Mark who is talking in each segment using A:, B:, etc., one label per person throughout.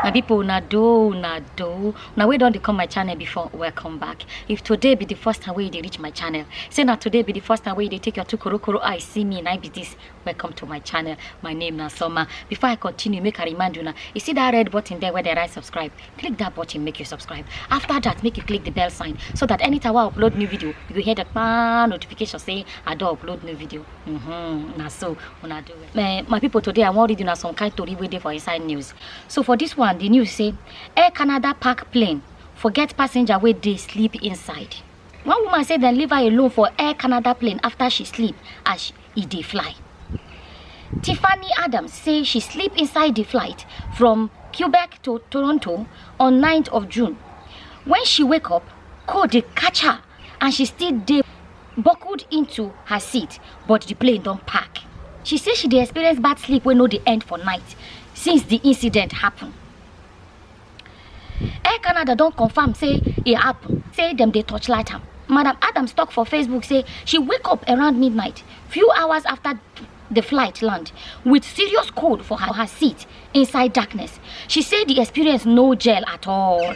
A: my people una do una do una wey don dey come my channel before welcome back if today be the first time wey you dey reach my channel say na today be the first time wey you dey take your two korokoro eye see me na be this welcome to my channel my name na soma before i continue make i remind una you see that red button there where dey write subscribe click that button make you subscribe after that make you click the bell sign so that anytime i upload new video you go hear the kpaa notification say i don upload new video mm -hmm. na so una do uh, my people today i wan read una some kind tori wey dey for inside news so for this one the news say air canada park plane forget passenger wey dey sleep inside one woman say dem leave her alone for air canada plane after she sleep as e dey fly tiffany adams say she sleep inside the flight from quebec to toronto on 9th of june when she wake up cold dey catch her and she still dey buckled into her seat but the plane don park she say she dey experience bad sleep wey no dey end for night since the incident happen air canada don confam say e happen say dem dey torchlight am madam adams tok for facebook say she wake up around midnight few hours after the flight land with serious cold for her, her seat inside darkness she say the experience no gel at all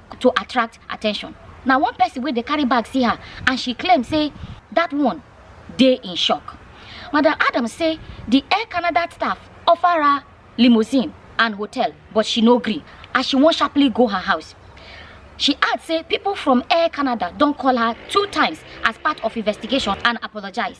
A: to attract attention na one person wey dey carry bag see her and she claim say that one dey in shock madam adams say the air canada staff offer her limousine and hotel but she no gree as she wan sharply go her house she add say people from air canada don call her two times as part of investigation and apologise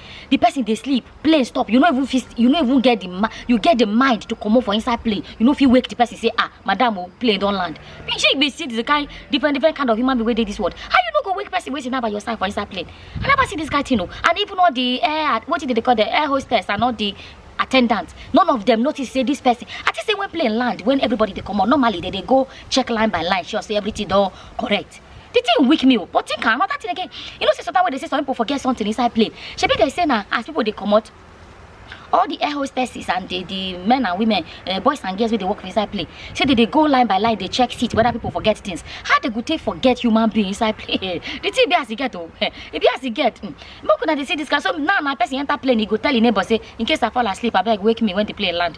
A: the person dey sleep plane stop you no even fit you no even get the ma you get the mind to comot for inside plane you no fit wake the person say ah madam o plane don land be shey you be see the kind different different kind of human being wey dey this world how you no go wake person wey sit down by your side for inside plane i never see this kind thing o and even all the air wetin dem dey call the air hostess and all the attendants none of them notice say this person i think say when plane land when everybody dey comot normally they dey go check line by line sure say everything don correct the thing weak me o but think am another thing again you know say sometimes wey dey say some people forget something inside plane shebi dey say na as people dey comot all the air hostesses and the the men and women uh, boys and girls wey dey work for inside plane say they dey go line by line dey check seat whether people forget things how they go take forget human being inside plane the thing be as e get o e be as e get mm. make una dey see this kind so now na person enter plane e go tell im neighbor say in case i fall asleep abeg wake me when the plane land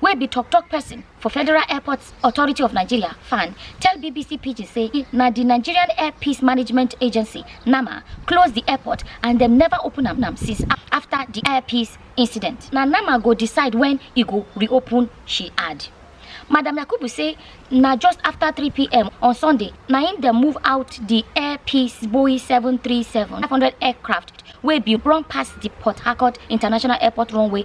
A: wey be tok-tok pesin for federal airport authority of nigeria fan tell bbc pidgin say na di nigerian air peace management agency nama close di airport and dem neva open am am since afta di air peace incident na nama go decide wen e go reopen she add madam yakubu say na just afta 3pm on sunday na im dem move out di air peace boeing 737 500 aircraft wey bin run past di port harcourt international airport runway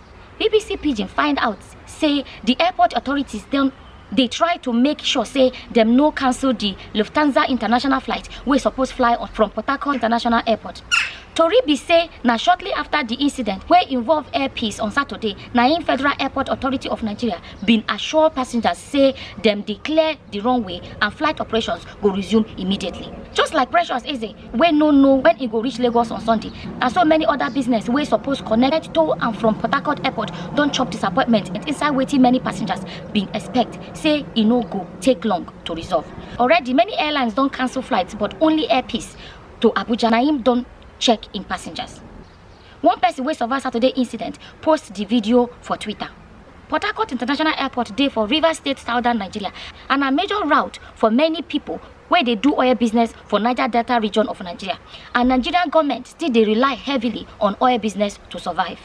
A: bbc pidgin find out say di airport authorities don dey try to make sure say dem no cancel di lufthansa international flight wey suppose fly on from port harcourt international airport tori be say na shortly afta di incident wey involve air peace on saturday na im federal airport authority of nigeria bin assure passengers say dem dey clear di runway and flight operations go resume immediately just like precious eze wey no know when e go reach lagos on sunday and so many other business wey suppose connect to and from port harcourt airport don chop disappointment inside wetin many passengers bin expect say e no go take long to resolve already many airlines don cancel flights but only air peace to abuja na im don check im passengers one person wey survive saturday incident post di video for twitter port harcourt international airport dey for rivers state southern nigeria and na major route for many pipo wey dey do oil business for Niger Delta region of Nigeria and Nigerian government still dey rely heavily on oil business to survive.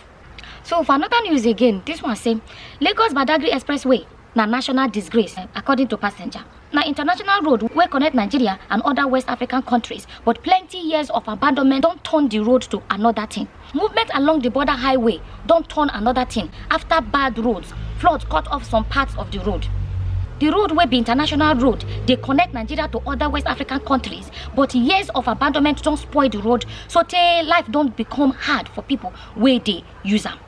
A: So for another news again, this one say Lagos Badagry Expressway na national disgrace according to passenger na international road wey connect nigeria and other west african countries but plenty years of abandonment don turn di road to another thing Movement along di border highway don turn anoda tin afta bad roads flood cut off some parts of di road. Di road wey be international road dey connect Nigeria to oda West African kontris but years of abandonment don spoil di road sotey life don become hard for pipo wey dey use am.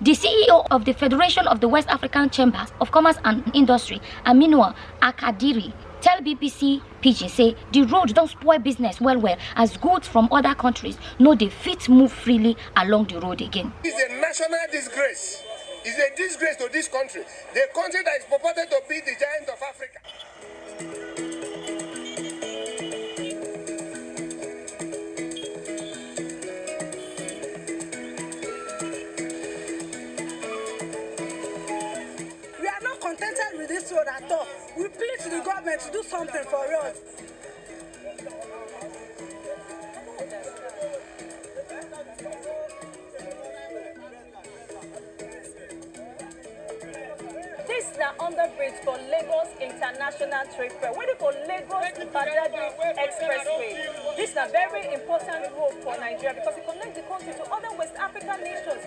A: Di CEO of di Federation of di West African Chambers of Commerce and Industry, Aminua Akadiri tell bbc pidgin say di road don spoil business well well as goods from oda kontris no dey fit move freely along di road again. It's a national disgrace. It's a disgrace to this country. The country that is purported to be the giant of Africa. We are not contented with this road at all. We plead to the government to do something for us. This na underbridge for Lagos International Trade Fair wey dey for Lagos Badagry Expressway. This na very important road for Nigeria because e connect the country to other West African nations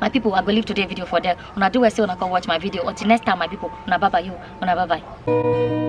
A: my people i go leave today video for there una do well say una come watch my video until next time my people una bye bye you una bye bye.